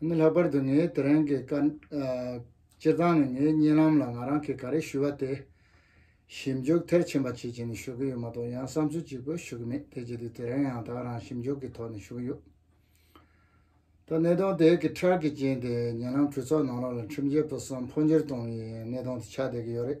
ནི་ལྷག་པར་དུ་ངའི་དེ་རིང་གི་བཀའ། སྤྱིར་བཏང་ནི་ངའི་བརྙན་ལམ་ལ་ང་རང་གིས་ག་རེ་ཞུས་པ་དེ། ཞིབ་འཇུག་མཐར་ཕྱིན་པ་བྱེད་ཀྱིན་ནི་ཞུ་གི་ཡོད་མ་གཏོགས་ཡང་བསམ་ཚུལ་གཅིག་པོས་ཞུ་གི་མེད་དེ་བྱས་དུས་དེ་རིང་ཡང་དག་རང་ཞིབ་འཇུག་གི་ཐོག་ནས་ཞུ་གི་ཡོད། ད་གནས་སྟངས་དེ་གི་འཕྲལ་གྱི་རྐྱེན་དེས་བརྙན་ལམ་གྲོས་ཚོགས་ནང་ལོགས་ལ་ཁྲིམས་བཅད་པོ་གསུམ་འཕོ་འགྱུར་གཏོང་ངེས་ཡིན་ནས་གནས་སྟངས་དེ་ཆགས་བསྡད་ཀྱི་ཡོད་རེད།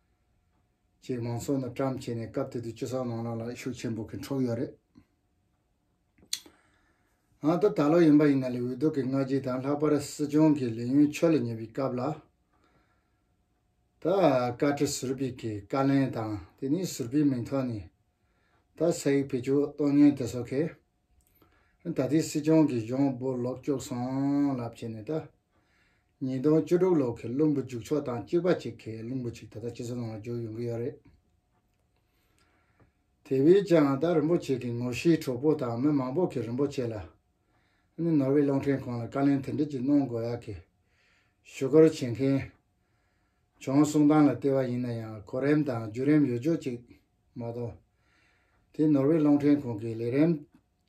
ཅེས་མང་ཚོགས་རྣམས་བཀྲམ་བྱས་ནས་སྐབས་དེ་དུས་སྤྱི་ཚོགས་ནང་རང་ལ་ཤུགས་ཆེན་པོ་གིས་འཕྲོག་ཡོད་རེད། ཨང་ད་ད་ལོ་ཡིན་པ་ཡིན་ན་ལས་འོས་ལྡོག་གི་སྔ་རྗེས་དང་ལྷག་པར་སྲིད་སྐྱོང་གི་ལས་ཡུན་ཕྱོགས་ལས་ཉེ་བའི་སྐབས་ལ། ད་བཀའ་ཁྲི་ཟུར་པའི་གི་བཀའ་ལན་དང་དེ་ནས་ཟུར་པའི་མིང་ཐོག་ནས་ད་ས་ཡིག་བེད་སྤྱོད་གཏོང་ཉེན་དེ་སོགས་ཁེ། ད་ལྟའི་སྲིད་སྐྱོང་གི་གཞུང་སྦོ་ལོག་སྐྱོག་སོང་ལབ་བྱས་ནས་ད། ཉིས་སྟོང་བཅུ་དྲུག་ལོག་གི་བླུན་པོ་འཇུག་ཆོག་དང་གཅིག་པ་གཅིག་གི་བླུན་པོ་གཅིག་ད་ལྟ་སྤྱི་ཚོགས་ནང་ལ་འཇུག་ཡོང་གི་ཡོད་རེད། དེ་བས་ཀྱང་ད་རིན་པོ་ཆེ་གི་ངོ་ཤེས་གྲོགས་པོ་དང་མི་མང་པོ་གི་རིན་པོ་ཆེ་ལ་ནི་ནོར་བའི་གློག་འཕྲིན་ཁང་ལ་བཀའ་ལན་དེ་འདྲི་གཅིག་གནོང་དགོས་ཡག་གི། ཞུ་སྐོར་བྱེད་མཁན། བྱུང་གསུང་སྟངས་ལ་ལྟོས་པ་ཡིན་ན་ཡང་གོ་རིམ་དང་བརྒྱུད་རིམ་ཡོད་ཅོག་ཅིག་མ་མཐོང། དེ་ནོར་ཝེ་གློག་འཕྲིན་ཁང་གི་ལས་རིམ་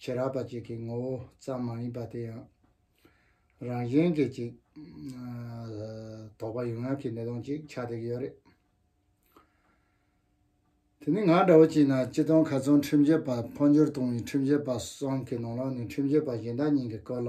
བྱེད་རག་པ་ཅིག་གི་ངོ་བོ་ཙམ་མ་ཡིན་པ་དེ་ཡང་རང་གཞན་གྱི་ཅིག། དོགས་པ་ཡོད་ངག་གི་གནས་སྟངས་ཅིག་ཆགས་བསྡད་ཀྱི་ཡོད་རེད། དེ་ནི་ང་འདྲ་བོ་ཅིག་ན་སྤྱི་སྟངས་ག་ཚོད་ཁྲིམས་བྱེད་པ་འཕོ་འགྱུར་གཏོང་བའི་ཁྲིམས་བྱེད་པ་སོགས་ཀྱི་ནང་ལ་ནི་ཁྲིམས་བྱེད་པ་གཞན་དག་གཉིས་ཀྱི་སྐོར་ལ་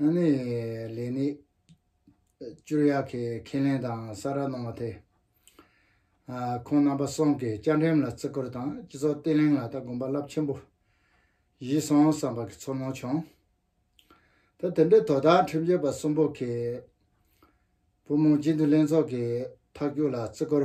ཨ་ནེ། ལེ་ནི། སྤྱིར་ཡག་གི་ཁས་ལེན་དང་ས་ར་གནང་བ་དེ། ཁོང་རྣམ་པ་སོང་གི་བཅའ་འགྲེམས་ལ་བརྩི་བཀུར་དང་སྤྱི་ཚོགས་བརྟན་ལྷིང་ལ་ད་དགོངས་པ་རླབས་ཆེན་པོ་བཞིས་སོང་བསམ་པ་གི་ཚོར་སྣང་བྱུང། ད་དེ་འདྲའི་དོ་བདག་ཁྲིམས་རྒྱལ་པ་གསུམ་པོ་གིས། བུ་མོ་སྤྱི་འཐུས་ལྷན་ཚོགས་ཀྱི་ཐག་གཅོད་ལ་བརྩི་བཀུར་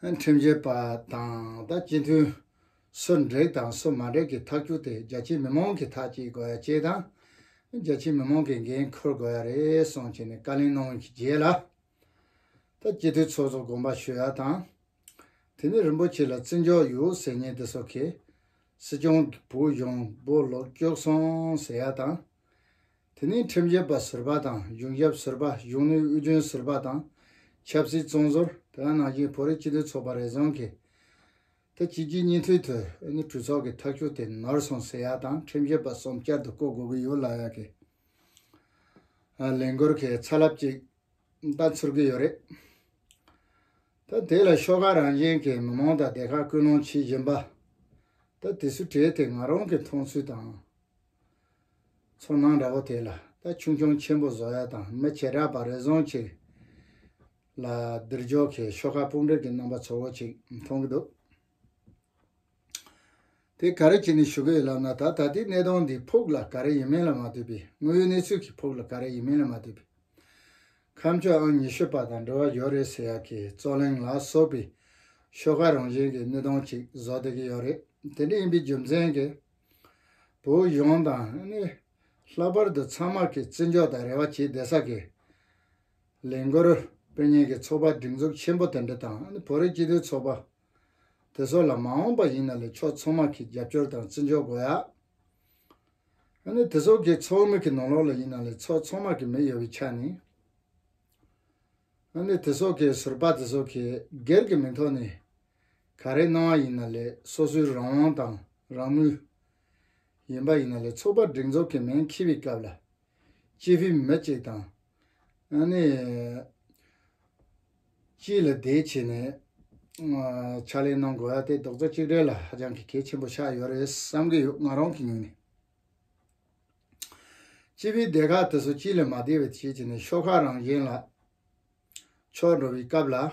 ཁྲིམས་བྱེད་པ་དང་ད་སྤྱི་འཐུས་སུ་འགྲིག་དང་སུ་མ་འགྲིག་གི་ཐག་གཅོད་དེ་རྒྱ་ཆེའི་མི་མང་གི་ཐག་གཅིག་དགོས་ཅེས་དང། རྒྱ་ཆེའི་མི་མང་གི་འགན་འཁུར་དགོས་ཡ་རེད་གསུངས་བྱས་ནས་བཀའ་ལན་གནང་བའི་རྗེས་ལ། ད་སྤྱི་འཐུས་ཚོགས་གཙོ་དགོངས་པ་ཞུ་ཡ་དང། དེ་ནས་རིན་པོ་ཆེ་ལ་བརྩི་འཇོག་ཡོད་ཟེར་ཉེན་དེ་སོགས་ཀྱིས། སྲིད་སྐྱོང་གི་བུ་གཞོང་པོ་ལོག་སྐྱོགས་སོང་ཟེར་ཡ་དང། དེ་ནི་ཁྲིམས་ཞབས་པ་ཟུར་པ་དང་གཞུང་ཞབས་ཟུར་པ་གཞུང་ནུས་དབུལ་སྐྲུན་ཟུར་པ་དང་ཆབ་སྲིད་བཙོན་ཟུར་དེ་དག་ནང་བཞིན་བོད་རིགས་སྤྱི་མཐུན་ཚོགས་པ་རེ་ཟུང་གིས་ད་སྤྱི་སྤྱི་གཉིས་མཐུད་དུ་ཨེ་ནི་གྲོས་ཚོགས་ཀྱི་ཐག་གཅོད་དེ་ནོར་སོང་ཟེར་ཡག་དང་ཁྲིམས་ཞབས་པ་གསུམ་བསྐྱར་དུ་བསྐོ་དགོས་ཀྱི་ཡོད་ལབ་ཡག་གི་ལས་འགུལ་གྱི་ཚ་རླབས་ཅིག་ད་འཕྱུར་གྱི་ཡོད་རེད། ད་དེ་ལ་ཤོག་ཁག་རང་བཞིན་གྱི་མི་མང་དང་སྡེ་ཁག་སྐུལ་སློང་བྱེད་བཞིན་པ། ད་དེ་སུ་གྲས་དེ་ང་རང་གི་མཐོང་ཚུལ་དང། ཚོར་སྣང་འདྲ་བོ་དེ་ལ་ད་ཆུང་ཆུང་ཆེན་པོ་བཟོ་ཡ་དང་མི་བྱེ་བྲག་པ་རེ་ཟུང་ཅིག་ལ་སྡུར་འཇོག་གིས་ཤོག་ཁ་དཔུང་བསྒྲིགས་ཀྱི་རྣམ་པ་ཚོར་བོ་ཅིག་མཐོང་གི་འདུག་དེ་ག་རེ་བྱས་ནས་ཞུ་གི་ཡོད་ལབ་ན་ད་ད་ལྟའི་གནས་སྟངས་འདི་ཕུགས་ལ་ག་རེ་ཡིན་མིན་ལ་མ་ལྟོས་པའི་དངོས་ཡོད་གནས་ཚུལ་གྱི་ཕུགས་ལ་ག་རེ་ཡིན་མིན་ལ་མ་ལྟོས་པའི་ཁམས་ཕྱོགས་ཨང་ཉི་ཤུ་པ་དང་འབྲེལ་བ་ཡོད་རེད་ཟེར་ཡག་གི་རྩོ་གླེང་ལ་སོགས་པའི་ཤོག་ཁ་རང་བཞིན་གྱི་གནས་སྟངས་ཅིག་བཟོ་བསྡད་ཀྱི་ཡོད་རེད་དེ་འདྲ་ཡིན་པའི་རྒྱུ་མཚན་གྱིས་བོད་གཞུང་དང་ནི་ལྷག་པར་དུ་ཚང་མར་གྱི་བརྩི་འཇོག་དང་རེ་བ་བྱེད་བདེ་ས་དགེ་ལེགས་འགོར་དཔོན་ཉན་གྱི་ཚོགས་པ་སྒྲིག་འཛུགས་ཆེན་པོ་དེ་འདྲ་དང་ནི་བོད་རིགས་སྤྱི་མཐུན་ཚོགས་པ་དེ་ཚོ་ལ་མ་འོངས་པ་ཡིན་ན་ལས་ཕྱོགས་ཚང་མར་གྱི་རྒྱབ་སྐྱོར་དང་བརྩི་འཇོག་དགོས་ཡ། ནི་དེ་ཚོ་གི་ཚོགས་མི་གྱི་ནང་ལོགས་ལ་ཡིན་ན་ལས་ཚོགས་ཚང་མར་གྱི་མི་ཡོད་པའི་ཆ་ནས་ནི་དེ་ཚོ་གི་ཟུར་པ་དེ་ཚོ་གི་སྒེར་གྱི་མིང་ཐོག་ནས་ག་རེ་གནང་བ་ཡིན་ན་ལས་སོ་སོའི་རང་དབང་དང་རང་མོས། ཡིན་པ་ཡིན་ན་ལས་ཚོགས་པ་སྒྲིག་འཛོགས་ཀྱི་མིང་འཁྱིལ་བའི་སྐབས་ལ། སྤྱི་འཐུས་མི་གཅིག་དང། ཨ་ནི། གཅིག་ལ་དེའི་ཆེད་ནས། ཕྱག་ལས་གནང་དགོས་པ་དེ་རྡོག་རྩ་གཅིག་སྒྲིལ་ལ་ཧ་ཅང་གི་གལ་ཆེན་པོ་ཆགས་ཡོད་རེད་བསམ་གྱི་ཡོད་ང་རང་གི་ངོས་ནས། སྤྱི་པའི་སྡེ་ཁག་དེ་ཚོ་སྤྱི་ལས་མ་བདེ་བའི་ཆེད་ཀྱི་ནས་ཤོག་ཁག་རང་བཞིན་ལ། ཕྱོགས་འགྲོ་བའི་སྐབས་ལ།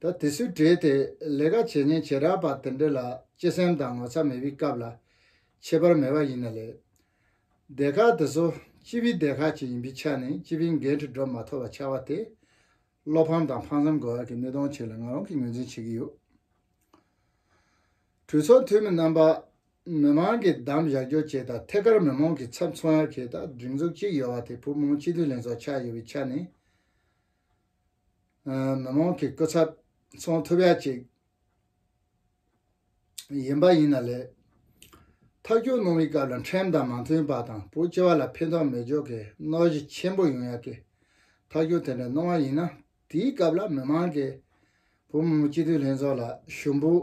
ད་དེ་སུས་བྲེལ་ཏེ་ལས་ཀ་བྱེད་ཉེན་བྱེད་རག་པ་དེ་འདྲ་ལ་སྤྱི་སེམས་དང་ངོ་ཚ་མེད་པའི་སྐབས་ལ་ཁྱད་པར་མེད་པ་ཡིན་ནི་ལེགས། སྡེ་ཁག་དེ་ཚོ་སྤྱི་པའི་སྡེ་ཁག་ཅིག་ཡིན་པའི་ཆ་ནས་སྤྱི་པའི་འགན་འཁྲི་འགྲོ་མ་ཐུབ་པ་ཆགས་པ་དེ་བློ་ཕམ་དང་ཕངས་སེམས་དགོས་ཡག་གི་གནད་དོན་ཞིག་ལ་ང་རང་གིས་ངོས་འཛིན་བྱེད་ཀྱི་ཡོད། གྲོས་ཚོགས་འཐུས་མི་རྣམ་པ། མི་མང་གིས་གདམ་བཞག་རྒྱུ་བཅས་དང་ཐད་ཀར་མི་མང་གི་ཚབ་མཚོན་ཡག་གི་དང་སྒྲིག་འཛུགས་གཅིག་ཡོད་པ་དེ་བུ་མོ་སྤྱི་འཐུས་ལྷན་ཚོགས་ཆགས་ཡོད་པའི་ཆ་ནས། མི་མང་གི་སྐུ་ཚབ་ཚོང་ཐུབ་ཡ་གཅིག་ཡིན་པ་ཡིན་ན་ལས་ཐག་གཅོད་གནང་བའི་སྐབས་ལ་འཕྲེང་དང་མ་མཐུན་པ་དང་བོད་སྤྱི་བ་ལ་ཕན་ཐོག་མི་འཇོག་གི་གནོད་གཞི་ཆེན་པོ་ཡོང་ཡ་གི་ཐག་གཅོད་དེ་འདྲ་གནང་བ་ཡིན་ན་དེའི་སྐབས་ལ་མི་མང་གི་བོད་མི་མང་སྤྱི་འཐུས་ལྷན་ཚོགས་ལ་ཞུ་འབོད་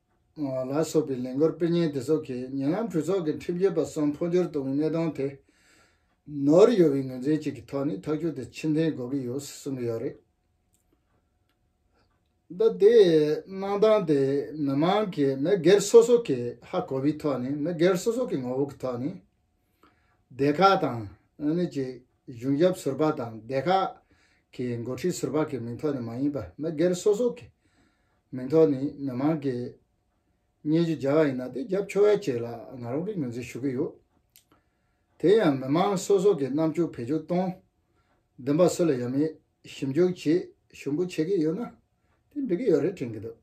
ལ་སོགས་པའི་ལས་འགོར་དཔེ་རྙིང་དེ་སོགས་ཀྱིས་ཉེ་ལམ་གྲོས་ཚོགས་ཀྱི་ཁྲིམས་རྒྱུད་པ་གསུམ་འཕོ་འགྱུར་གཏོང་བའི་གནས་སྟངས་དེ། ནོར་ཡོད་པའི་ངོས་འཛིན་གཅིག་གི་ཐོག་ནས་ཐག་གཅོད་དེ་ཕྱིར་འཐེན་དགོས་ཀྱི་ཡོད་གསུངས་ཀྱི་ཡོད་རེད། ད་ལྟའི་གནང་སྟངས་དེ་མི་མང་གིས་མི་སྒེར་སོ་སོ་གི་ཧ་གོ་བའི་ཐོག་ནས་མི་སྒེར་སོ་སོ་གི་ངོ་བོ་གི་ཐོག་ནས། སྡེ་ཁག་དང་ཨ་ནི་གཅིག་གཞུང་ཞབས་ཟུར་པ་དང་སྡེ་ཁག་གི་འགོ་ཁྲིད་ཟུར་པ་གི་མིང་ཐོག་ནས་མ་ཡིན་པར་མི་སྒེར་སོ་སོ་གི། མིང་ཐོག་ནས་མི་མང་གིས་སྙན་ཞུ་སྦྱར་བ་ཡིན་ན་དེ་རྒྱབ་ཆོས་བརྒྱད་ལ་ང་རང་གིས་ངོས་འཛིན་ཞུ་གི་ཡོད། དེ་ཡང་མི་མང་སོ་སོ་གི་རྣམ་འགྱུར་བེད་སྤྱོད་གཏོང། བདེན་པ་སུ་ལ་ཡོད་མེད་ཞིབ་འཇུག་བྱེད་ཞུ་འབོད་བྱེད་ཀྱི་ཡོད་ན་དེ་འགྲིག་གི་ཡོད་རེད་དྲན་གྱི་འདུག་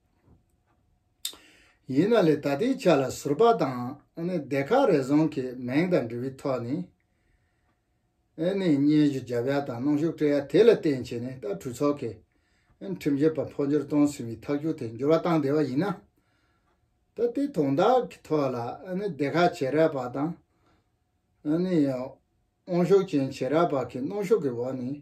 ཡིན་ན་ལས་ད་ལྟའི་ཆ་ལ་ཟུར་པ་དང་སྡེ་ཁག་རེ་ཟུང་གིས་མིང་དང་འབྲི་བའི་ཐོག་ནས། ཨེ་ནས་སྙན་ཞུ་བརྒྱབ་ཡ་དང་གནང་ཞུགས་སྤྲད་ཡ་དེ་ལ་བརྟེན་བྱས་ནས་ད་གྲོས་ཚོགས་ཀྱིས་ཁྲིམས་བཅད་པ་འཕོ་འགྱུར་གཏོང་ཟིན་བའི་ཐག་གཅོད་དེ་འགྱུར་བ་བཏང་བསྡད་པ་ཡིན་ན། ད་ལྟའི་དོན་དག་གི་ཐོག་ལ་ཨེ་ནས་སྡེ་ཁག་བྱེས་རབས་པ་དང་ཨེ་ནས་དབང་ཤུགས་ཅན་བྱེས་རབས་པ་གིས་གནང་ཞུགས་ཀྱི་འོག་ནས་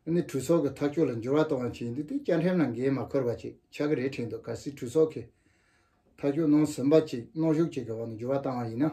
ཨེ་ནས་གྲོས་ཚོགས་ཀྱི་ཐག་གཅོད་ལ་འགྱུར་བ་གཏོང་བ་བྱས་འདུག་དེ་བཅའ་ཁྲིམས་ལ་འགན་མ་འཁུར་བ་ཅིག་ཆགས་ཀྱི་རེད་དྲན་འདུག་གལ་སྲིད་གྲོས་ཚོགས་ཀྱིས་ཐག་གཅོད་གནང་ཟིན་པ་ཅིག་གནང་ཞུགས་བཅས་ཀྱི་འོག་ནས་འགྱུར་བ་བཏང་བ་ཡིན་ན།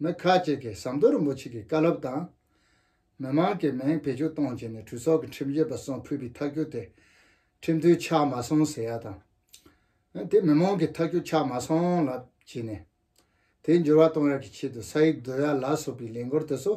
མི་ཁག་ཅིག་གིས་ཟམ་གདོང་རིན་པོ་ཆེ་གི་བཀའ་སློབ་དང། མི་མང་གི་མིང་བེད་སྤྱོད་གཏོང་བྱས་ནས་གྲོས་ཚོགས་ཀྱི་ཁྲིམས་བཞིན་པ་གསུང་ཕུལ་བའི་ཐག་གཅོད་དེ་ཁྲིམས་མཐུན་ཆགས་མ་སོང་ཟེར་ཡ་དང། དེ་མི་མང་གི་ཐག་གཅོད་ཆགས་མ་སོང་ལ་བྱས་ནས། དེའི་འགྱུར་བ་གཏོང་ཡ་གི་ཆེད་དུ་ས་ཡིག་བསྡུ་ཡ་ལ་སོགས་པའི་ལས་འགོར་དེ་ཚོ།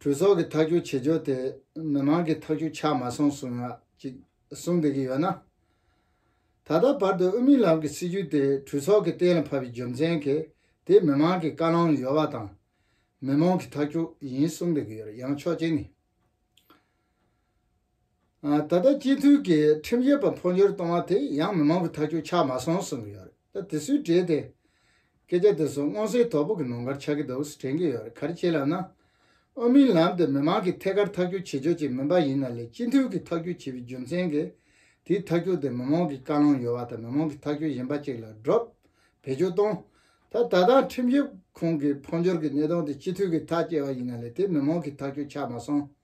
གྲོས་ཚོགས་ཀྱི་ཐག་གཅོད་བྱེད་ཕྱོགས་དེ་མི་མང་གི་ཐག་གཅོད་ཆགས་མ་སོང་གསུངས་ཡག་ཅིག་གསུང་བསྡད་ཀྱི་ཡོད་ན། ད་ལྟ་བར་དུ་དབུ་མའི་ལམ་གྱི་སྲིད་བྱུས་དེ་གྲོས་ཚོགས་ཀྱི་གཏན་ལ་ཕབ་པའི་རྒྱུ་མཚན་གྱི་དེ་མི་མང་གི་བཀའ་ལང་ཡོད་པ་དང་མི་མང་གི་ཐག་གཅོད་ཡིན་གསུངས་བསྡད་ཀྱི་ཡོད་ཡང་ཆོག་ཅིག་ནི། ད་ལྟ་སྤྱི་འཐུས་ཀྱི་ཁྲིམས་ཡོད་པ་འཕོ་འགྱུར་གཏོང་བ་དེ་ཡང་མི་མང་གི་ཐག་གཅོད་ཆགས་མ་སོང་གསུངས་ཀྱི་ཡོད་རེད་ད་དེ་སུས་དྲིས་ཏེ། སྐད་ཆ་དེ་ཚོ་སྔོན་སྲིད་དོག་པོ་གི་ནང་ཁར་ཆགས་ཀྱི་འདུག་དྲན་གྱི་ཡོད་རེད་ག་རེ་བྱེད་ལབ་ན། ཨོ་མིན་ལམ་དེ་མི་མང་གི་ཐད་ཀར་ཐག་གཅོད་བྱེད་ཆོག་ཅིག་མིན་པ་ཡིན་ན་ལས་སྤྱི་འཐུས་ཀྱི་ཐག་གཅོད་བྱེད་པའི་རྒྱུ་མཚན་གྱིས་དེའི་ཐག་གཅོད་དེ་མི་མང་གི་བཀའ་ལུང་ཡོད་པ་དང་མི་མང་གི་ཐག་གཅོད་གཞན་པ་ཅིག་ལ་སྒྲོག་བེད་སྤྱོད་གཏོང་ད་ད་ལྟ་ཁྲིམས་ཞིབ་ཁང་གི་འཕོ་འགྱུར་གྱི་གནས་སྟངས་དེ་སྤྱི་འཐུས་ཀྱི་ཐག་བཅད་པ་ཡིན་ན་ལས་དེ་མི་མང་གི་ཐག་གཅོད་ཆགས་མ་སོང།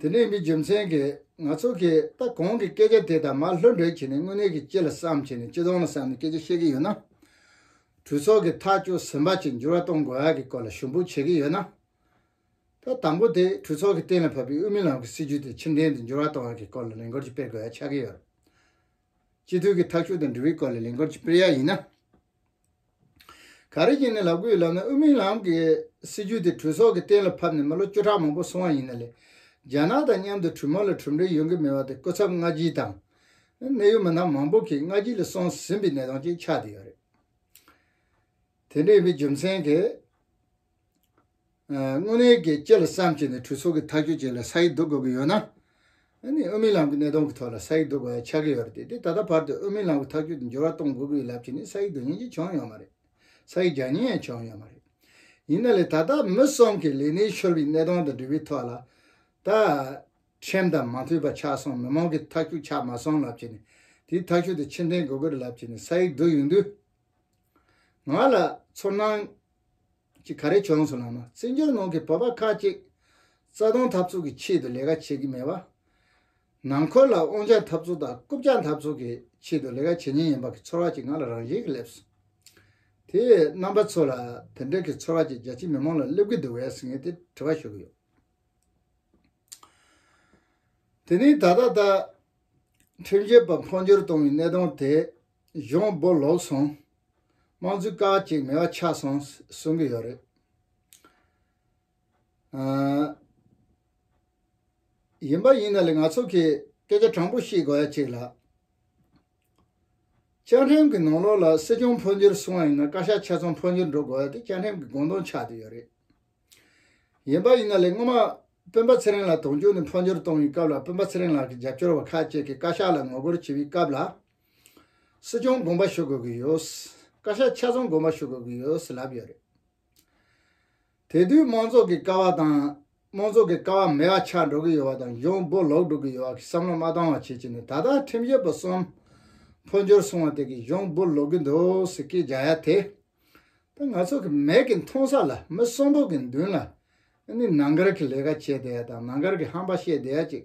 དེ་ནས་མི་རྒྱུ་མཚན་གྱིས་ང་ཚོ་གིས་ད་གོང་གི་སྐད་ཆ་དེ་དང་མ་ལྷོད་འདྲེས་བྱས་ནས་དངོས་གནས་ཀྱི་སྤྱི་ལ་བསམ་བྱས་ནས་སྤྱི་སྟོང་ལ་བསམ་ནས་སྐད་ཆ་བཤད་ཀྱི་ཡོད་ན། གྲོས་ཚོགས་ཀྱི་ཐག་གཅོད་ཟིན་པ་ཅིག་འགྱུར་བ་གཏོང་དགོས་ཡ་གི་སྐོར་ལ་ཞུ་འབོད་བྱེད་ཀྱི་ཡོད་ན། ད་དང་པོ་དེ་གྲོས་ཚོགས་ཀྱི་གཏན་ལ་ཕབ་པའི་དབུས་མི་ལམ་གྱི་སྲིད་ཇུས་དེ་ཕྱིར་འཐེན་དུ་འགྱུར་བ་གཏོང་ཡ་གི་སྐོར་ལ་ལས་འགོར་གྱི་སྤེལ་དགོས་ཡ་ཆགས་ཀྱི་ཡོད། སྤྱི་འཐུས་ཀྱི་ཐག་གཅོད་དང་འབྲེལ་བའི་སྐོར་ལ་ལས་འགོར་གྱི་སྤེལ་ཡ་ཡིན་ན། ག་རེ་བྱས་ནས་ལག་བསྐུས་ལབ་ན་དབུ་མའི་ལམ་གྱི་སྲིད་བྱུས་དེ་གྲོས་ཚོགས་ཀྱི་གཏན་ལ་ཕབ་ནས་མི་ལོ་བཅུ་ཕྲག་མང་པོ་སོང་བ་ཡིན་ན་ལས། རྒྱ་ནག་དང་མཉམ་དུ་གྲོས་མོལ་ལ་གྲུབ་འབྲས་ཡོང་གི་མེད་པ་དེ་སྐུ་ཚབ་སྔ་ཕྱིའི་དང། གནད་ཡོད་མི་སྣ་མང་པོ་གིས་སྔ་ཕྱི་ལ་སོང་ཟིན་པའི་གནས་སྟངས་ཅིག་ཆགས་བསྡད་ཡོད་རེད། དེ་འདྲ་ཡིན་པའི་རྒྱུ་མཚན་གྱིས། དངོས་གནས་ཀྱི་སྐྱེ་ལ་བསམ་བྱས་ནས་གྲོས་ཚོགས་ཀྱི་ཐག་གཅོད་བྱས་ལ་ས་ཡིག་བསྡུ་དགོས་ཀྱི་ཡོད་ན། ཨུ་མི་ལམ་གྱི་གནད་དོན་གྱི་ཐོག་ལ་ས་ཡིག་བསྡུ་དགོས་ཡ་ཆགས་ཀྱི་ཡོད་རེད་དེ་ད་ལྟ་བར་དུ་ཨུ་མི་ལམ་གྱི་ཐག་གཅོད་དེ་འགྱུར་བ་གཏོང་དགོས་ཀྱི་ཡོད་ལབ་ཀྱི་ནི་ས་ཡིག་བསྡུ་ཉན་གྱི་བྱུང་ཡོད་མ་རེད། ས་ཡིག་རྒྱག་ཉན་ཡང་བྱུང་ཡོད་མ་རེད། ཡིན་ན་ལས་ད་ལྟ་མི་གསུམ་གྱི་ལས་གནས་ཤོར་བའི་གནད་དོན་དང་འབྲེལ་བའི་ཐོག་ལ། ད། ཁྲིམས་དང་མ་མཐུན་པ་ཆགས་སོང་མི་མང་གིས་ཐག་གཅོད་ཆགས་མ་སོང་ལབ་ཀྱི་ནི་དེའི་ཐག་གཅོད་དེ་ཕྱིར་འཐེན་དགོས་ཀྱི་རེད་ལབ་ཀྱི་ནི་ས་ཡིག་བསྡུ་ཡོང་དུས། ང་ལ་ཚོར་སྣང། ཅིག་ག་རེ་བྱུང་སོང་ན་མ་རྩེ་འཇོར་ནང་གི་བོད་པ་ཁག་ཅིག་རྩ་སྟོང་འཐབ་རྩོད་ཀྱི་ཆེད་དུ་ལས་ཀ་བྱེད་ཀྱི་མེད་པ། ནང་འཁོར་ལ་དབང་ཆ་འཐབ་རྩོད་དང་རྐུབ་ལྕག་འཐབ་རྩོད་ཀྱི་ཆེད་དུ་ལས་ཀ་བྱེད་ཉེན་ཡིན་པ་གི་ཚོར་བ་ཅིག་ང་ལ་རང་བཞིན་གྱི་སླེབས་སོང། དེས་རྣམ་པ་ཚོ་ལ་དེ་འདྲ་གི་ཚོར་བ་ཅིག་རྒྱ་ཆེའི་མི་མང་ལ་སླེབས་ཀྱི་འདུག་བས་ཟེར་ངེས་ཏེ་དྲི་བ་ཞུ་གི་ཡོད། དེ་ནི་ད་ལྟ་ད། ཁྲིམས་རྒྱལ་བ་འཕོ་འགྱུར་གཏོང་བའི་གནད་དོན་དེ་གཞུང་སྦོ་ལོག་སོང། དམངས་གཙོའི་སྐར་གཅིག་མེད་པ་ཆགས་སོང་གསུང་གི་ཡོད་རེད། ཡིན་པ་ཡིན་ན་ལས་ང་ཚོ་གི་སྐད་ཆ་དྲང་པོ་ཤེས་དགོས་ཡ་གཅིག་ལགས། བཅའ་ཁྲིམས་ཀྱི་ནང་ལོག་ལ་སྲིད་སྐྱོང་འཕོ་འགྱུར་གསུང་བ་ཡིན་ན་བཀའ་ཤག་ཆེ་ཚོང་འཕོ་འགྱུར་འགྲོ་དགོས་ཡ་དེ་བཅའ་ཁྲིམས་ཀྱི་དགོངས་དོན་ཆགས་དུས་ཡོད་རེད། ཡིན་པ་ཡིན་ན་ལས་སྔོན་མ་སྤུན་པ་ཚེ་རིང་ལགས་དོན་གཅོད་ནས་འཕོ་འགྱུར་གཏོང་བའི་སྐབས་ལ་སྤུན་པ་ཚེ་རིང་ལགས་ཀྱི་རྒྱབ་སྐྱོར་བ་ཁག་ཅིག་གིས་བཀའ་ཤག་ལ་ངོ་རྒོལ་བྱས་པའི་སྐབས་ལ། སྲིད་སྐྱོང་དགོངས་པ་ཞུ་དགོས་ཀྱི་ཡོད། བཀའ་ཤག་ཆ་ཚང་དགོངས་པ་ཞུ་དགོས་ཀྱི་ཡོད་ལབ་ཡོད་རེད། དེ་དུས་དམངས་གཙོ་གི་ཀ་བ་དང། དམངས་གཙོ་གི་ཀ་བ་མེད་པ་ཆགས་འགྲོ་གི་ཡོད་པ་དང་གཞུང་སྦོ་ལོག་འགྲོ་གི་ཡོད་པ་གི་བསམ་བློ་མ་བཏང་བ་བྱེད་ཀྱི་ནི་ད་ལྟ་ཁྲིམས་ཞིབ་པ་གསུམ་འཕོ་འགྱུར་སོང་བ་དེ་གི་གཞུང་སྦོ་ལོག་གི་འདུག་ཟེར་སྐད་རྒྱག་ཡ་དེ་ད་ང་ཚོ་གི་མེད་གི་མཐོང་ས་ལ་མི་གསོན་པོ་གི་མདུན་ལ་ཨ་ནི་ནང་ཁར་གི་ལས་ཀ་བྱེད་བསྡད་ཡ་དང་ནང་ཁར་གི་ཧམ་པ་བཤད་བསྡད་ཡ་ཅིག་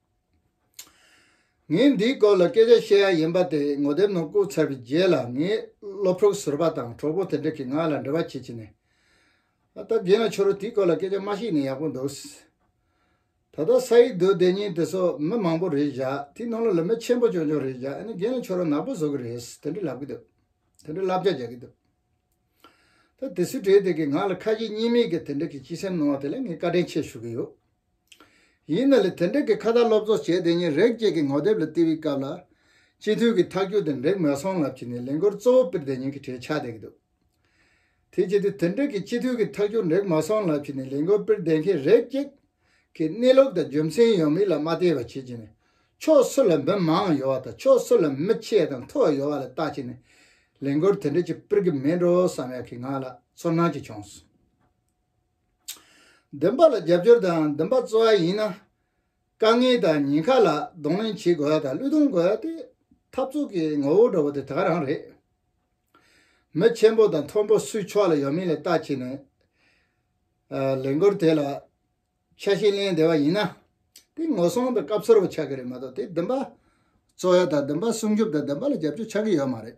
ངས་འདིའི་སྐོར་ལ་སྐད་ཆ་བཤད་ཡ་ཡིན་པ་དེ་ངོ་དེབ་ནང་བཀུག་ཚར་བའི་རྗེས་ལ་ངའི་སློབ་ཕྲུག་ཟུར་པ་དང་གྲོགས་པོ་དེ་འདྲ་གིས་ང་ལ་འབྲེལ་བ་བྱེད་ཀྱིན་ནས། ཨ་ད་རྒན་ལ་ཁྱོད་རང་དེའི་སྐོར་ལ་སྐད་ཆ་མ་བཤད་ནས་ཡག་པོ་འདུག། ད་ལྟ་ས་ཡིག་བསྡུ་བསྡད་ཉིན་དེ་སོགས་མི་མང་པོ་རེད་བཞག་དེའི་ནང་ལ་ལོ་མི་ཆེན་པོ་ཅུང་ཅུང་རེད་བཞག་ཨ་ནི་རྒན་ལ་ཁྱོད་རང་ནག་པོ་བཟོ་གི་རེད་དེ་འདྲ་ལབ་གི་འདུག་དེ་འདྲ་ལབ་བྱ་རྒྱག་གི་འདུག་ད་དེ་སུས་བྲིས་དེ་གིས་ང་ལ་ཁ་ཞེ་གཉིས་མེད་ཀྱི་དེ་འདྲ་གི་སྤྱི་སེམས་གནང་བ་དེ་ལ་ངས་བཀའ་དྲིན་ཆེ་ཞུ་གི་ཡོད། ཡིན་ན་ལས་དེ་འབྲེལ་གྱི་ཁ་བརྡ་སློབ་ཚོགས་བྱས་དེ་ཉིན་རེག་བཅས་ཀྱི་ངོ་དེབ་ལ་བལྟས་པའི་སྐབས་ལ། སྤྱི་འཐུས་ཀྱི་ཐག་གཅོད་དེ་འགྲིག་མ་སོང་ལབ་ཀྱི་ནས་ལས་འགུར་གཙོ་བོ་པིར་དེ་ཉིན་གྱི་གྲས་ཆགས་བསྡད་ཀྱི་འདུག་དེ་བྱས་དུས་དེ་འབྲེལ་གྱི་སྤྱི་འཐུས་ཀྱི་ཐག་གཅོད་འགྲིག་མ་སོང་ལབ་ཀྱི་ནས་ལས་འགུར་པིར་བསྡད་མཁན་རེག་བཅས་ཀྱི་གནས་ལུགས་དང་རྒྱུ་མཚན་ཡོད་མེད་ལ་མ་བལྟས་པར་བྱས་ཀྱི་ནས་ཕྱོགས་སུ་ལ་མི་མང་ཡོད་བ་དང་ཕྱོགས་སུ་ལ་མི་ཆེ་དང་མཐོ་ཡོད་བ་ལ་བལྟ་ཀྱི་ནས་ལས་འགུར་དེ་འབྲེལ་གྱི་པིར་གྱི་མེད་འགྲོ་བསམ་ཡག་གི་ངང་ལ་ཚོར་སྣང་གཅིག་བྱུང་སོང། འདུན་པ་ལ་རྒྱབ་སྐྱོར་དང་འདུན་པ་གཙོ་བ་ཡིན་ན། དཀའ་ངལ་དང་ཉེན་ཁ་ལ་གདོང་ལེན་བྱེད་དགོས་པ་དང་བློས་གཏོང་དགོས་པ་དེ་འཐབ་རྩོད་ཀྱི་ངོ་བོར་འགྲོ་བ་དེ་དག་རང་རེད། མི་ཆེན་པོ་དང་མཐོན་པོ་སུའི་ཕྱོགས་ལ་ཡོད་མེད་ལ་བལྟ་བྱས་ནས། ལས་འགུལ་དེ་ལ་ཆ་ཤས་ལེན་བདེ་བ་ཡིན་ན། དེ་ངོ་སྲུང་དང་སྐབས་འཚོལ་བ་ཆགས་ཀྱི་རེད་མ་གཏོགས་དེ་འདུན་པ་གཙོ་བ་དང་འདུན་པ་སྲུང་སྐྱོབ་དང་འདུན་པ་ལ་རྒྱབ་སྐྱོར་ཆགས་ཀྱི་ཡོད་མ་རེད།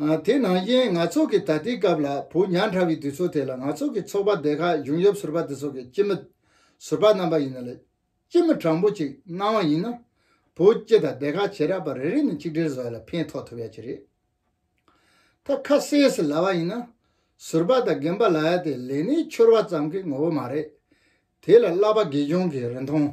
དེས་ན་གཡེང་ནག་ཚོགས་ཀྱི་ད་ལྟའི་སྐབས་ལ་བུ་ཉག་འདྲ་བའི་དུས་ཚོད་དེ་ལ་ནག་ཚོགས་ཀྱི་ཚོགས་པ་སྡེ་ཁག་གཞུང་ཡབ་ཟུར་པ་དེ་ཚོ་གི་སྐྱིད་མོ་ཟུར་པ་རྣམ་པ་ཡིན་ན་ལས་སྐྱིད་མོ་དྲང་པོ་ཅིག་གནང་བ་ཡིན་ན་བུ་སྐྱིད་དང་སྡེ་ཁག་བྱེ་རག་པ་རེ་རེ་ནས་གཅིག་སྒྲིལ་བཟོ་ལ་ཕན་ཐོག་ཐུབ་ཡ་གྱི་རེད་ད་ཁ་གསལ་ཟེར་ལ་བ་ཡིན་ན་ཟུར་པ་དང་རྒན་པ་ལ་ཡ་དེ་ལས་ནས་འཆོར་བ་ཙམ་གི་ངོ་བོ་མ་རེད་དེ་ལ་བསླབ་པ་དགེ་སྦྱོང་གི་རིན་ཐང།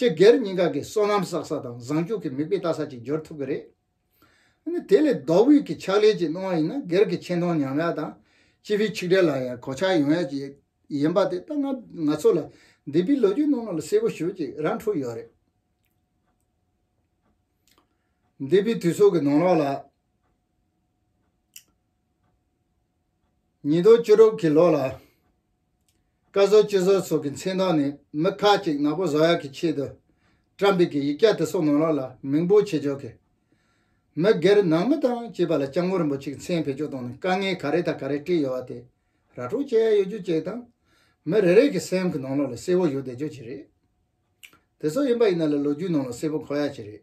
སྤྱི་སྒེར་གཉིས་ཀ་གི་སོ་ནམ་བསགས་ས་དང་བཟང་སྤྱོད་ཀྱི་མིག་དཔེ་ལྟ་ས་ཅིག་འབྱོར་ཐུབ་ཀྱི་རེད། དེ་ལས་ལྡོག་དབུས་ཀྱི་ཕྱག་ལས་ཅིག་གནང་བ་ཡིན་ན་སྒེར་གྱི་ཆེ་མཐོང་ཉམས་ཡག་དང་སྤྱི་པའི་ཆིག་སྒྲིལ་ལ་ཡང་གོ་ཆ་ཡོང་ཡག་ཅིག་ཡིན་པ་དེ་ད་ང་ང་ཚོ་ལ་འདི་པའི་ལོ་རྒྱུས་ནང་ནང་ལ་གསལ་པོ་ཞུ་ཅིག་རང་འཁྲུག་ཡོད་རེད། འདི་པའི་དུས་ཚོགས་ཀྱི་ནང་ལོགས་ལ། ཉིས་སྟོང་བཅུ་དྲུག་གི་ལོགས་ལ། བཀའ་ཟུར་སྤྱི་ཟུར་སོགས་ཀྱི་མཚན་དག་ནི་མི་ཁ་ཅིག་ནག་པོ་བཟོ་ཡག་གི་ཆེད་དུ་བཀྲམ་པའི་གི་ཡིག་སྐྱ་དེ་སོགས་ནང་ལོག་ལ་མིང་སྤོ་བྱེད་ཆོག་གི། མི་སྒེར་ནང་མི་དང་བཅས་པ་ལ་སྐྱབས་མགོན་རིན་པོ་ཆེ་གི་མཚན་བེད་སྤྱོད་གཏོང་ནས་དཀའ་ངལ་ག་རེ་དང་ག་རེ་བཀྲིས་ཡོད་བ་དེ་ར་སྤྲོད་བྱས་ཡོད་རྒྱུ་བཅས་དང། མི་རེ་རེ་གི་སེམས་ཀི་ནང་ལོག་ལ་གསལ་བོ་ཡོད་བསྡད་རྒྱུ་བཅས་རེད། དེ་སོགས་ཡིན་པ་ཡིན་ན་ལ་ལོ་རྒྱུས་ནང་ལོག་གསལ་བོ་གོ་ཡག་བཅས་རེད།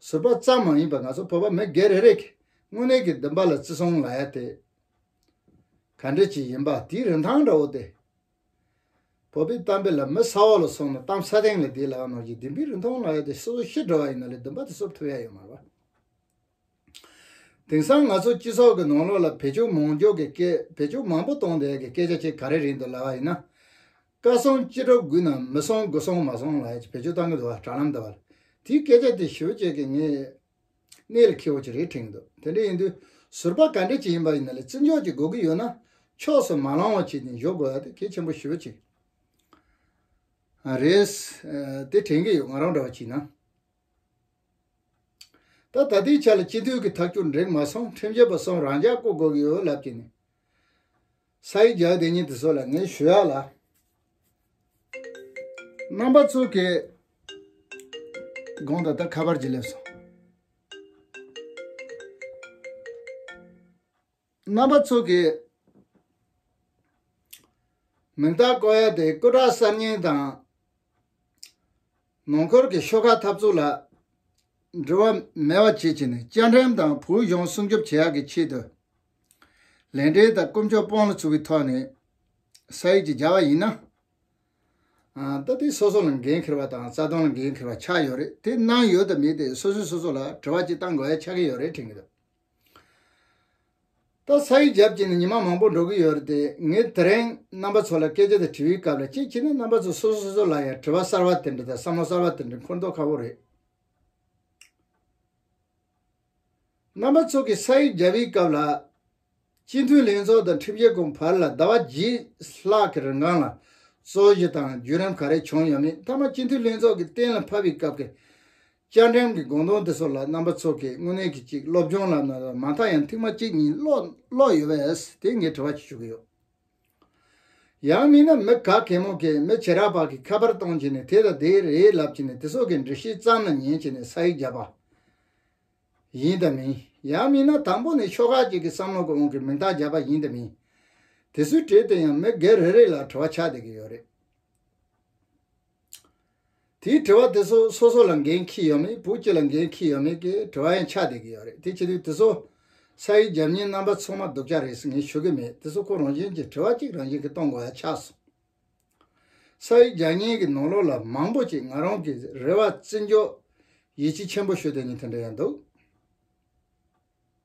བཟོད་པ་ཙམ་མ་ཡིན་པར་ང་ཚོ་བོད་པ་མི་སྒེར་རེ་རེས་ཀྱི་དངོས་གནས་ཀྱི་འདུན་པ་ལ་བརྩི་སྲུང་ལ་ཡ་དེ་ག་འདྲས་ཅིག་ཡིན་པ་དེའི་རིན་ཐང་འདྲ་བོ་དེ། བོད་པའི་གཏམ་དཔེ་ལ་མི་ས་འོག་ལ་སོང་ནས་གཏམ་ས་སྟེང་ལ་བསྡད་ལ་ཡང་ནོར་གྱི་འདུན་པའི་རིན་ཐང་ལ་ཡ་དེ་སོ་སོ་ཤི་འགྲོ་བ་ཡིན་ན་ལས་འདུན་པ་དེ་གསོབ་ཐུབ་ཡ་ཡོད་མ་རེད་པ། དེང་སང་ང་ཚོ་སྤྱི་ཚོགས་ཀྱི་ནང་ལོགས་ལ་བེད་སྤྱོད་མང་འཇོག་གི་སྐད་བེད་སྤྱོད་མང་པོ་གཏོང་བསྡད་ཀྱི་སྐད་ཆ་གཅིག་ག་རེ་རེད་འདུག་ལབ་པ་ཡིན་ན། བཀའ་སྲུང་སྤྱི་སྒྲོག་དགུ་ན་མི་སྲུང་དགུ་སྲུང་མ་སྲུང་ལ་བེད་སྤྱོད་གཏང་གི་འདུག་བ་དྲ་ལམ་དུ་བར་དེའི་སྐད་ཆ་དེ་ཞུ་བྱེད་ཀྱི་ངའི་གནས་ལ་ཁེ་བོ་ཅི་རེད་དྲིས་འདུག་དེ་འདྲ་ཡིན་དུས་ཟུར་པ་ག་འདྲ་ཅིག་ཡིན་པ་ཡིན་ན་ལས་བརྩི་འཇོག་ཅིག་དགོས་ཀྱི་ཡོད་ན་ཕྱོགས་སུ་མ་ལང་བ་བྱེད་ཅིང་བཞོག་དགོས་བ་དེ་གལ་ཆེན་པོ་ཞུ་བ་ཅིག་རེད་དེ་དྲན་གྱི་ཡོད་ང་རང་འདྲ་བ་གྱིས་ན། ད་ད་ལྟའི་ཆ་ལ་སྤྱི་འཐུས་ཀྱི་ཐག་གཅོད་འགྲིག་མ་སོང་ཁྲིམས་ཆད་པ་སོང་རང་འཇགས་བསྐོ་དགོས་ཀྱི་ཡོད་ལབ་ཀྱི་ནི། ས་ཡིག་རྒྱག་དེ་ཉིན་དེ་ཚོ་ལ་ངས་ཞུ་ཡག་ལ། རྣམ་པ་ཚོ་གི་དགོངས་ད་ལྟ་ཁ་པར་གྱིས་སླེབས་སོང། རྣམ་པ་ཚུགས་ཀྱི་མིང་རྟགས་བཀོད་ཡ་དེ་སྐུ་དྲག་གསར་རྙིང་དང་ནང་འཁོར་གྱི་ཤོ་ཁག་འཐབ་རྩོད་ལ་འབྲེལ་བ་མེད་བ་བཅས་བྱས་ནས་བཅའ་ཁྲིམས་དང་བོད་གཞུང་སྲུང་སྐྱོབ་བྱེད་ཡག་གི་ཆེད་དུ་ལས་འབྲེལ་དང་དཀོན་མཆོག་སྤོང་ལ་ཚུགས་ཀྱི་ཐོག་ནས་ས་ཡིག་ཅིག་སྦྱར་བ་ཡིན་ན། ད་ལྟའི་སོ་སོ་ལ་འགན་འཁྱེར་བ་དང་རྩ་དོན་ལ་འགན་འཁྱེར་བ་ཆགས་ཡོད་རེད་དེ་གནང་ཡོད་དམ་མེད་དེ་སོ་སོས་སོ་སོ་ལ་དྲི་བ་ཅིག་བཏང་དགོས་ཡ་ཆགས་ཀྱི་ཡོད་རེད་དྲན་གྱི་འདུག། ད་ས་ཡུལ་རྒྱབ་ཀྱི་ནས་ཉི་མ་མང་པོ་འགྲོ་གི་ཡོད་རེད་དེ་ངས་དེ་རིང་རྣམ་པ་ཚོ་ལ་སྐད་ཆ་དེ་དྲི་བའི་སྐབས་ལ་ཅིག་བྱས་ན་རྣམ་པ་ཚོ་སོ་སོ་སོ་སོ་ལ་ཡང་དྲི་བ་གསར་བ་དེ་འདྲ་དང་བསམ་བློ་གསར་བ་དེ་འདྲ་འཁོར་མདོག་ཁ་བོ་རེད། རྣམ་པ་ཚོ་གིས་ས་ཡུལ་རྒྱབ་པའི་སྐབས་ལ། སྤྱི་འཐུས་ལྷན་ཚོགས་དང་ཁྲིམས་ཞིབ་ཁང་བར་ལ་ཟླ་བ་གྱིས་ལྷག་གི་རིང་སྒང་ལ་རྩོད་གཞི་དང་བརྒྱུད་རིམ་ག་རེ་བྱུང་ཡོད་མེད་མཐའ་མ་སྤྱི་འཐུས་ལྷན་ཚོགས་ཀྱི་གཏན་ལ་ཕབ་པའི་སྐབས་ཀྱི་བཅའ་ཁྲིམས་ཀྱི་དགོངས་དོན་དེ་ཚོ་ལ་རྣམ་པ་ཚོ་གིས་དངོས་གནས་ཀྱི་ཅིག་སློབ་སྦྱོང་ལབ་ན་ལབ་མ་མཐའ་ཡང་ཐིག་མ་གཅིག་གཉིས་ཀློག་ཡོད་པས་དེ་ངས་དྲི་བ་གཅིག་ཞུ་གི་ཡོད། ཡང་མིན་ན་མི་ག་གེ་མོ་གིས་མི་བྱེ་རག་པ་གིས་ཁ་པར་གཏོང་བྱས་ནས་དེ་དང་དེ་རེད་ལབ་བྱས་ནས་དེ་ཚོ་གིས་འདྲི་ཤེས་ཙམ་ལ་ཉན་བྱས་ནས་ས་ཡིག་བརྒྱབ་པ་ཡིན་དང་མིན་ཡང་མིན་ན་དང་པོ་ནས་ཤོག་ཁག་ཅིག་གིས་བསམ་བློ་གི་དབང་གིས་མིང་རྟགས་བརྒྱབ་པ་ཡིན་དང་མིན་དེ་ཚོའི་གྲས་དེ་ཡང་མི་སྒེར་རེ་རེ་ལ་དྲི་བ་ཆགས་བསྡད་ཀྱི་ཡོད་རེད། དེའི་དྲི་བ་དེ་ཚོ་སོ་སོ་ལ་འགན་ཁྱི་ཡོད་མེད་བུ་ཁྱི་ལ་འགན་ཁྱི་ཡོད་མེད་ཀྱི་དྲི་བ་ཡང་ཆགས་བསྡད་ཀྱི་ཡོད་རེད་དེ་ཕྱི་དུས་དེ་ཚོ་ས་ཡི་རྒྱབ་གཉེར་རྣམ་པ་ཚོགས་མ་སྡུག་ཅག་རེད་ཟེར་མཁན་ཞུ་གི་མེད་དེ་ཚོ་ཁོ་རང་བཞིན་གྱིས་དྲི་བ་གཅིག་རང་བཞིན་གྱིས་གཏོང་དགོས་ཡ་ཆགས་སོང། ས་ཡི་རྒྱ་གཉེར་གྱི་ནོར་ལོག་ལ་མང་པོ་ཅིག་ང་རང་གིས་རེ་བ་བརྩི་འཇོག་ཡིད་ཆེས་ཆེན་པོ་ཞུ་དོན་ནི་དེ་འདྲ་ཡང་འདུག།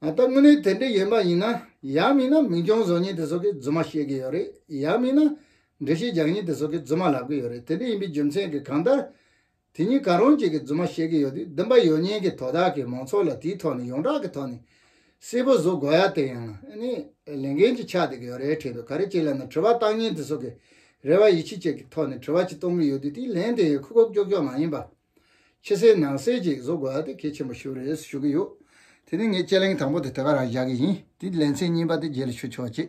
ད་དངོས་གནས་དེ་འདྲ་ཡོད་མ་ཡིན་ན་ཡག་མིན་ན་མིང་སྐྱོང་བཟོ་ཉེན་དེ་ཚོ་གི་རྫུན་མ་བཤད་གི་ཡོད་རེད་ཡག་མིན་ན་འགྲེལ་བཤད་རྒྱག་ཉེན་དེ་ཚོ་གི་རྫུན་མ་ལབ་གི་ཡོད་རེད་དེ་འདྲ་ཡིན་པའི་རྒྱུ་མཚན་གི་གང་ལྟར་དེ་གཉིས་ག་རང་གཅིག་གི་རྫུན་མ་བཤད་གི་ཡོད་དུས་བདུན་པ་ཡོད་ཉེན་གི་དོ་དག་གི་མང་ཚོགས་ལ་དེའི་ཐོག་ནས་ཡོངས་གྲགས་ཀི་ཐོག་ནས་གསལ་པོ་བཟོ་དགོས་ཡ་དེ་ཡང་ནི་ལས་འགན་གཅིག་ཆགས་སྡད་གི་ཡོད་རེད་དྲན་དུ་ག་རེ་བྱེད་ལབ་ན་དྲི་བ་བཏང་ཉེན་དེ་ཚོ་གི་རེ་བ་ཡིད་ཆེས་བཅས་གི་ཐོག་ནས་དྲི་བ་གཅིག་གཏོང་གི་ཡོད་དུས་དེའི་ལན་དེ་ཡང་ཁུག་ཁུག་ཀྱོག་ཀྱོག་མ་ཡིན་པ། ཕྱི་གསལ་ནང་གསལ་གྱིས་བཟོ་དགོས་ཏེ་གལ་ཆེན་པོ་ཞིག་རེད་ཞུ་གི་ཡོད། དེ་ནི་ངས་དཔྱད་གླེང་དང་པོ་དེ་དེ་ག་རང་བཞག་གི་ཡིན་དེའི་ལན་ཚིག་རྙིང་པ་དེ་རྗེས་ལ་ཞུ་ཆོག་ཅེས།